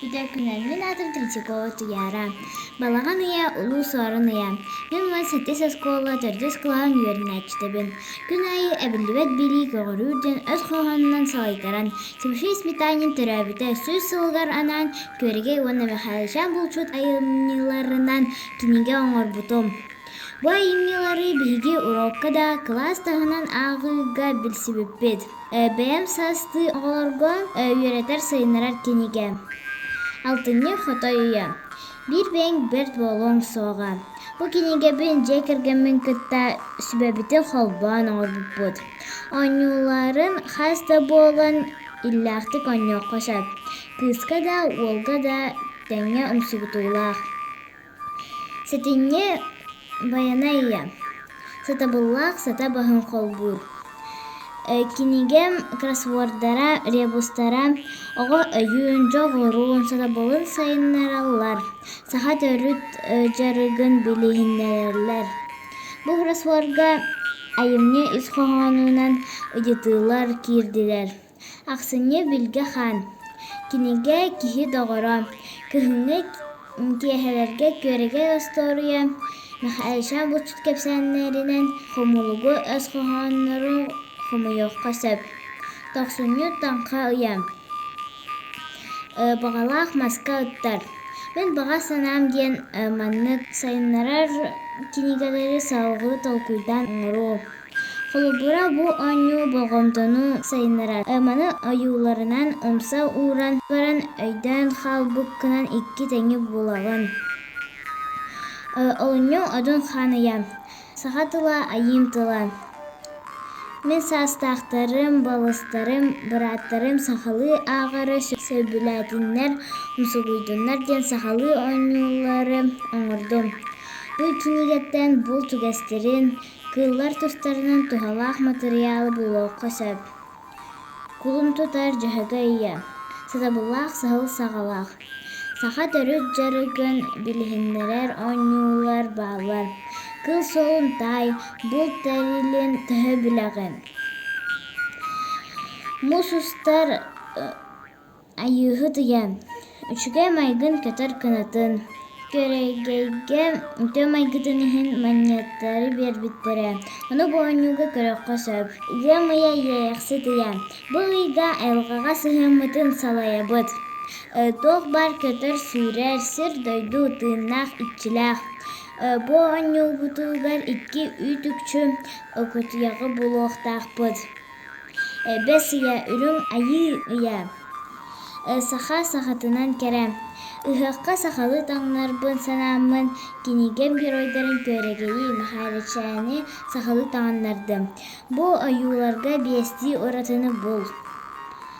Итэркүнэн мин аатым Третьякова Туяра. Балаҕан ыйа улуус оорон ыйа. Мин уон сэттис оскуола төрдүс кылаһын үөрэнээччитэбин. Күн аайы эбиллибэт билии көҕөрүүр диэн өс хоһоонунан салайтаран, Тимофей Сметанин төрөөбүтэ сүүс сылыгар анаан Күөрэгэй уонна Михаил Чаан булчут айымньыларынан кинигэ оҥорбутум. Бу айымньылары биһиги уруокка да, кылаас таһынан ааҕыыга билсибиппит. Э, Бэйэм саастыы оҕолорго э, үөрэтэр, сайыннарар кинигэ. Алтынньы Хотой үйэ. Биир бэйэҥ бэрт буолуоҥ суоҕа. Бу кинигэбин дьиэ кэргэммин кытта сүбэбитин холбоон оҥорбуппут. Оонньууларын хас да буолан иллээхтик оонньуохха сөп. Кыыска да, уолга да тэҥҥэ ымсыыбытыылаах. Сэтинньи Байанай ийэ сатабыллаах сата баһын холбуур кинигэм кроссвордара ребустара оҕо өйүн дьоҕурун сатабылын сайыннараллар саха төрүт дьарыгын билиһиннэрэллэр бу кроссворга айымньы ис хоһоонунан ыйытыылар киирдилэр Ахсынньы Вилгэ хаан. Кинигэ киһи доҕоро, кыһыҥҥы киэһэлэргэ күөрэгэй остуоруйа, Михаэльша булчут кэпсээннэринэн хомулугу өс хоһооннору хомуйуохха сөп. Тохсунньу Таҥха ыйа. Баҕалаах маска ыттар. Мин баҕа санаам диэн маннык сайыннарар кинигэлэри салҕыы толкуйдаан оҥоруу. Холобура, бу оонньуу болҕомтону сайыннарар. Маны ойууларынан умса ууран баран өйдөөн хаалбыккынан икки тэҥи булабын. Оонньуу одун ханыйа, саха тыла айыым тыла. Мин саастаахтарым, балыстарым, бырааттарым сахалыы ааҕары сөбүлээтиннэр, умсугуйдуннар диэн сахалыы оонньуулары оҥордум. Бу кинигэттэн булт үгэстэрин, Кыыллар тустарынан туһалаах матырыйаалы булуохха сөп. Кулун тутар дьөһөгө ийэ. Сатабыллаах сыһыл саҕалаах. Саха төрүт дьарыгын билиһиннэрэр оонньуулар бааллар. Кыл суолун таай, булт тэрилин төһө билэҕин? Муус устар Айыыһыт ыйан, үчүгэй майгын көтөр кынатын, күөрэгэйгэ үтүө майгытын иһин манньаттары биэрбиттэрэ. Ону бу оонньууга көрүөххэ сөп. Ыам ыйа иэйэхсит ыйа. Бу ыйга айылҕаҕа сыһыаммытын салайабыт. Туох баар көтөр-сүүрэр сир-дойду тыыннаах иччилээх. Бу оонньуубутугар икки үүт-үкчү кутуйаҕы булуохтаахпыт. Эбэс ийэ үрүҥ айыы үйэ саха сахатынан кэрэ ыһыахха сахалыы таҥынарбын санааммын кинигэм геройдарын күөрэгэйии Мэхээлэчээни сахалыы таҥыннардым бу ойууларга биэстии уратыны бул